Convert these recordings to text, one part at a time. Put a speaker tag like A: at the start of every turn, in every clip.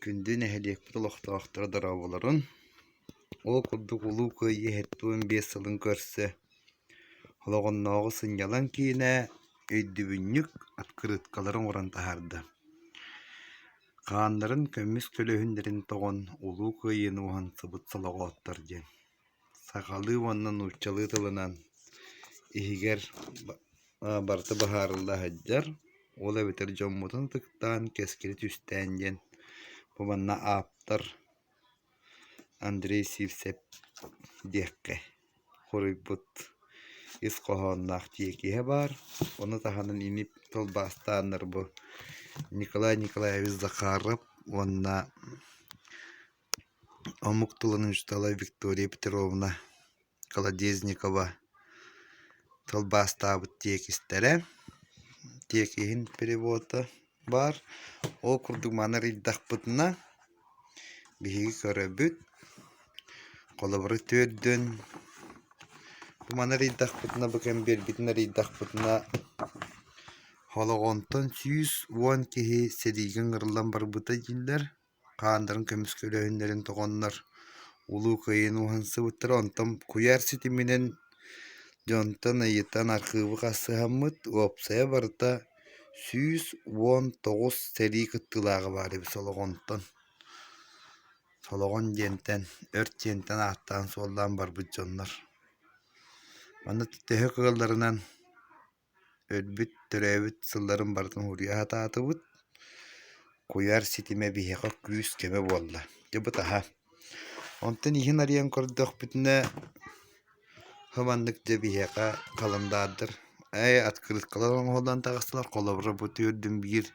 A: Күндү нэһилиэкпит олохтоохторо дорооболорун! Ол курдук Улуу Кыайыы сэттэ уон биэс сылын көрсө олоҕуннааҕы сынньалаҥ киинэ өйдөбүнньүк открыткалары оҥорон таһаарда. Хааннарын көмүс көлөһүннэрин тоҕон Улуу Кыайыыны уһансыбыт солоҕооттор диэн. сахалыы уонна нууччалыы тылынан иһигэр барыта быһаарылла сылдьар ол эбэтэр дьоммутун ытыктаан кэскилэ түстээн диэн бу манна ааптар Андрей Сивцев диэххэ хоруйбут ис хоһоонноох тиэкиһэ баар ону таһынан ини тылбаастааннар бу Николай Николаевич Захаров уонна Омук тылын учуутала Виктория Петровна Колодезникова тылбаастаабыт тиэкистэрэ, тиэкиһин перевода баар. Ол курдук маны арыйдахпытына, биһиги көрөбүт, холобура төрдүн бу маны арыйдахпытына, бу кэм биэрбитин арыйдахпытына, холоҕонтон сүүс уон киһи сэриигэ ыҥырыллан барбыта дииллэр. хаандарын көмүскэ үлэһиннэрин тоҕоннор Улуу Кыайыыны уһансыбыттара. Онтон куйаар ситиминэн дьонтон ыйытан архыыбы хасыһаммыт, уопсайа барыта сүүс уон тоҕус сэрии кыттыылааҕа баар эбит Солоҕонтон. Солоҕон диэнтэн, өрт диэнтэн ааттаан суоллаан барбыт дьоннор. Манна төһө кыалларынан Өлбүт, төрөөбүт сылларын барытын уруйа сатаатыбыт. Куйаар ситимэ биһиэхэ күүс-көмө буолла. Дьэ бытаһа. Онтон иһин арыйан көрдөхпүтүнэ, хабаннык дьэ биһиэхэ халандаардар «Ээ, открыткалар оҥоһуллан тахсылар, холобура, бу түөрдүн биир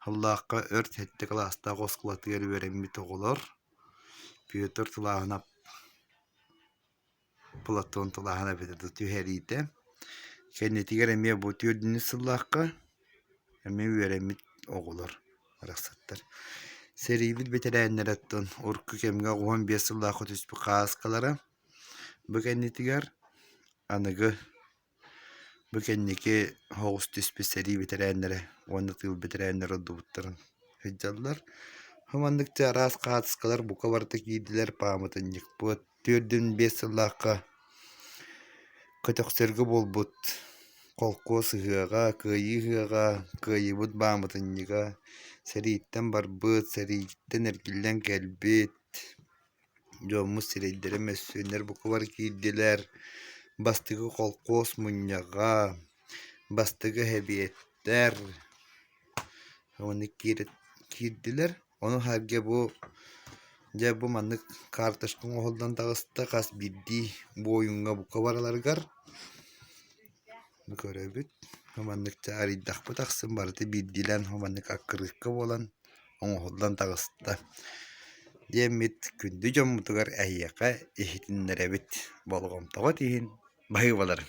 A: сыллаахха өр сэттэ кылаастаах оскуолатыгар үөрэммит оҕолор» Петр Тулааһынап Платон тылаһан эбэтэ да түһэриитэ. Кэннитигэр эмиэ бу түөрдүннүс сыллаахха эмиэ үөрэммит оҕолор барахсаттар сэриибит бэтэрээннэриттэн урукку кэмҥэ оҕуһун биэс сыллаахха түспүт хааскалара бу кэннитигэр аныгы Бу кэнники оҕус түспүт сэрии бэтэрээннэрэ уонна тыыл бэтэрээннэрэ ордубуттарын сылдьаллар. Ол маннык дьэ араас хаартыскалар бука барыта киирдилэр, пааматынньыкпыт түөртүн биэс сыллаахха көтөхсөргө буолбут холкуос ыһыаҕа, кыайыы ыһыаҕа, кыайыыбыт бааматынньыга, сэрииттэн барбыт, сэрииттэн эргиллэн кэлбит Дьоммут сирэйдэрэ мөссүөннэр букубар киирдилэр. Бастакы холкуос мунньаҕа, бастакы эбиэттэр уонна киирдилэр. Ону аһарга бу дьэ бу маннык карточка оҥоһуллан таҕыста хас биирдии буойуҥҥа бука барыларыгар. көрөбүт. Маннык чаарыйдахпыт ахсын барыта биирдиилээн маннык аккырыыкка буолан оҥоһуллан таҕыста. Диэммит күндү дьоммутугар эһиэхэ иһитиннэрэбит болҕомтоҕут иһин баһыыбаларым.